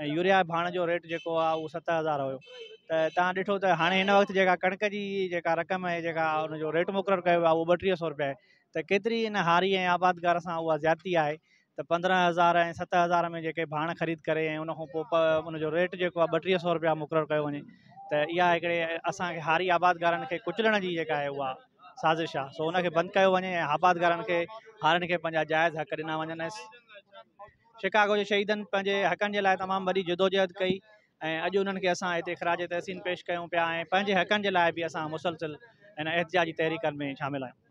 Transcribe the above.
۽ Urea ۽ ڀاڻ جو rate جيڪو آ اهو ست هزار هيو ته تان ڏٺو ته هاڻي هن وقت جيڪا ڪڻڪ جي جيڪا رقم آهي جيڪا ان جو ريٽ مقرر ڪيو ويو آ اهو ٻه ٽيهه سئو روپيا آهي ته ڪيتري ان هاري ۽ آبادگار سان اها زيادتي آهي ته پندرهن هزار ۽ ست هزار ۾ جيڪي ڀاڻ خريد ڪري ۽ ان کان پوء ان جو ريٽ جيڪو آ ٻه ٽيهه سئو روپيا مقرر ڪيو وڃي ته اها هڪڙي اسان کي هاري آبادگارن کي ڪچلڻ جي جيڪا آهي اها سازش آ سو ان کي بند ڪيو وڃي ۽ آبادگارن کي هارين کي پنهنجا جائز حق ڏنا وڃن شڪاگو جي شهيدن پنهنجي حقن جي لاء تمام وڏي جدوجهد ڪئي ۽ اڄ انهن کي اسان هتي خراج تحسين پيش ڪيون پيا ۽ پنهنجي حقن جي لاء به اسان مسلسل هن احتجاجي تحريڪن ۾ شامل آهيون.